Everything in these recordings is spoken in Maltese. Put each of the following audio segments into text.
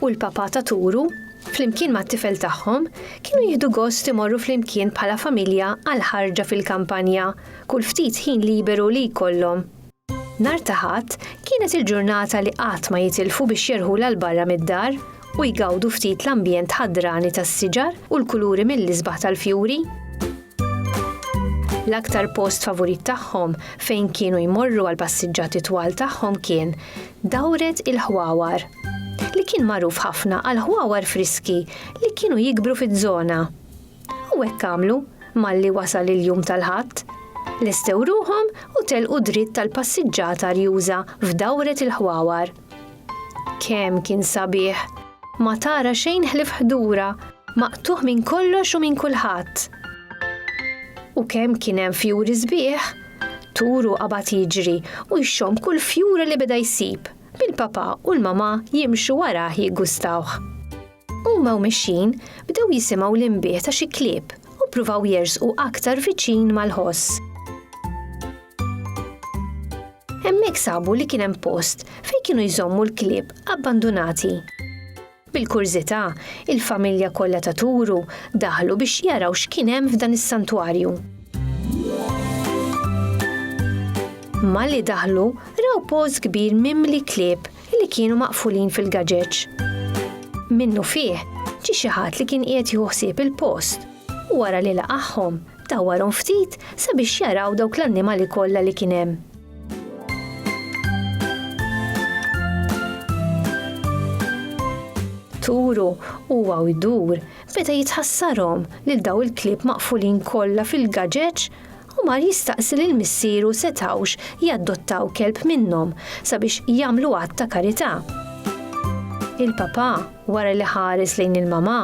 u l-Papa ta' Turu, flimkien mat-tifel tagħhom, kienu jieħdu gost imorru flimkien bħala familja għal ħarġa fil-kampanja kull ftit ħin liberu li jkollhom. Nhar ta' Ħadd kienet il-ġurnata li qatt ma jitilfu biex jerħulha 'l barra mid-dar u jgawdu ftit l-ambjent ħadrani tas-siġar u l-kuluri mill-isbaħ tal-fjuri. L-aktar post favurit tagħhom fejn kienu jmorru għall-passiġġati twal tagħhom kien Dawret il-Ħwawar. li kien magħruf ħafna għall-ħwawar friski li kienu jikbru fiż-żona. U hekk għamlu malli wasal il-jum tal-Ħadd. Lestew ruħhom u telqu dritt tal-passiġġata arjuża f'dawret il-ħwawar. Kemm kien sabiħ! Ma tara xejn ħlif ħdura, maqtuħ minn kollox u minn kulħadd. U kemm kien hemm fjuri sbieħ, turu qabad jiġri u jxomm kull fjura li beda jsib. bil-papà u l-mamà jimxu warah jiggustawh. Huma u mexjin, bdew jisimgħu l-inbih ta' xi klieb u ppruvaw jersqu aktar viċin mal-ħoss. Hemmhekk sabu li kien hemm post fejn kienu jżommu l-klieb abbandunati. Bil-kurżità, il-familja kollha ta' Turu daħlu biex jaraw x'kien hemm f'dan is-santwarju. Malli daħlu, raw post kbir mimli klieb li kienu maqfulin fil-gaġeġ. Minnufih, ġie xi ħadd li kien qiegħed jieħu ħsieb il-post u wara li laqagħhom, dawwarhom ftit sabiex jaraw dawk l-annimali kollha li kien hemm. turu huwa u jdur beda jitħassarhom lil daw il-klieb maqfulin kollha fil-gaġeġ u mar jistaqsi lil missieru setawx jaddottaw kelb minnhom sabiex jagħmlu għadd ta' karità. Il-papa wara li ħares lejn il-mama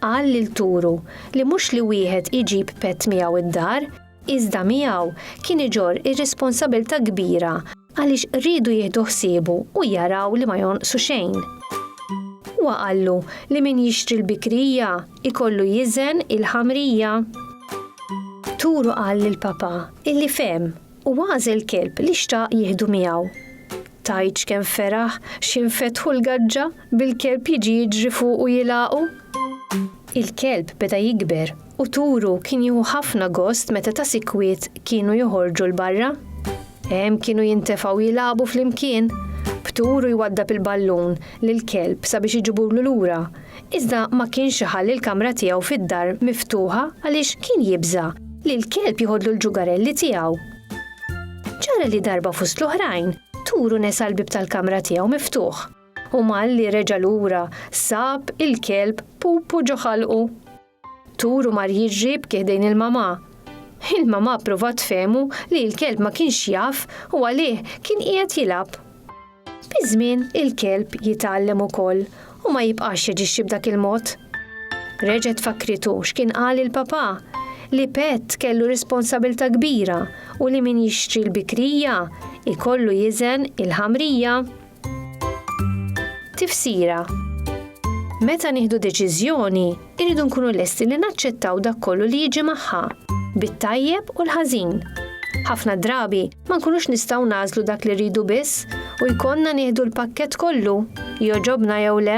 qal lil turu li mhux li wieħed iġib pet miegħu id-dar iżda miegħu kien iġorr ir-responsabilità kbira għaliex riedu jieħdu ħsiebu u jaraw li ma jonqsu xejn. Huwa qallu li min jixtri l-bikrija jkollu jiżen il-ħamrija. Turu qal lill-Papa illi fehem u għażel kelb li xtaq jieħdu miegħu. Tgħidx kemm feraħ xi nfetħu l-gaġġa! Bil-kelb jiġi jiġri fuq u jilgħaqu? Il-kelb beda jikber u turu kien jieħu ħafna gost meta ta' sikwit kienu joħorġu 'l barra. Hemm kienu jintefgħu jilagħbu flimkien, b'turu jwaddab il-ballun lill-kelb sabiex iġiburlu lura, iżda ma kienx iħalli l-kamra tiegħu fid-dar miftuħa għaliex kien jibża' li l-kelb jiħodlu l-ġugarelli tiegħu. Ġara li darba fost l-oħrajn, turu nesa l-bieb tal-kamra tiegħu miftuħ. U malli reġa' lura sab il-kelb pupu ġo ħalqu. Turu mar jiġri b'kiħdejn il-mamà. Il-mamà pruvat tfehmu li l-kelb ma kienx jaf u għalih kien qiegħed jilgħab. Biż-żmien il-kelb jitgħallem ukoll u ma jibqax jaġixxi b'dak il-mod. Reġgħet fakkritu x'kien qal il-papà, li pett kellu responsabilità kbira u li min jixtri l-bikrija jkollu jiżen il-ħamrija. Tifsira Meta nieħdu deċiżjoni, irridu nkunu lesti li naċċettaw dak kollu li jiġi magħha, bit-tajjeb u l-ħażin. Ħafna drabi ma nkunux nistgħu nażlu dak li rridu biss u jkollna nieħdu l-pakkett kollu, joġobna jew le.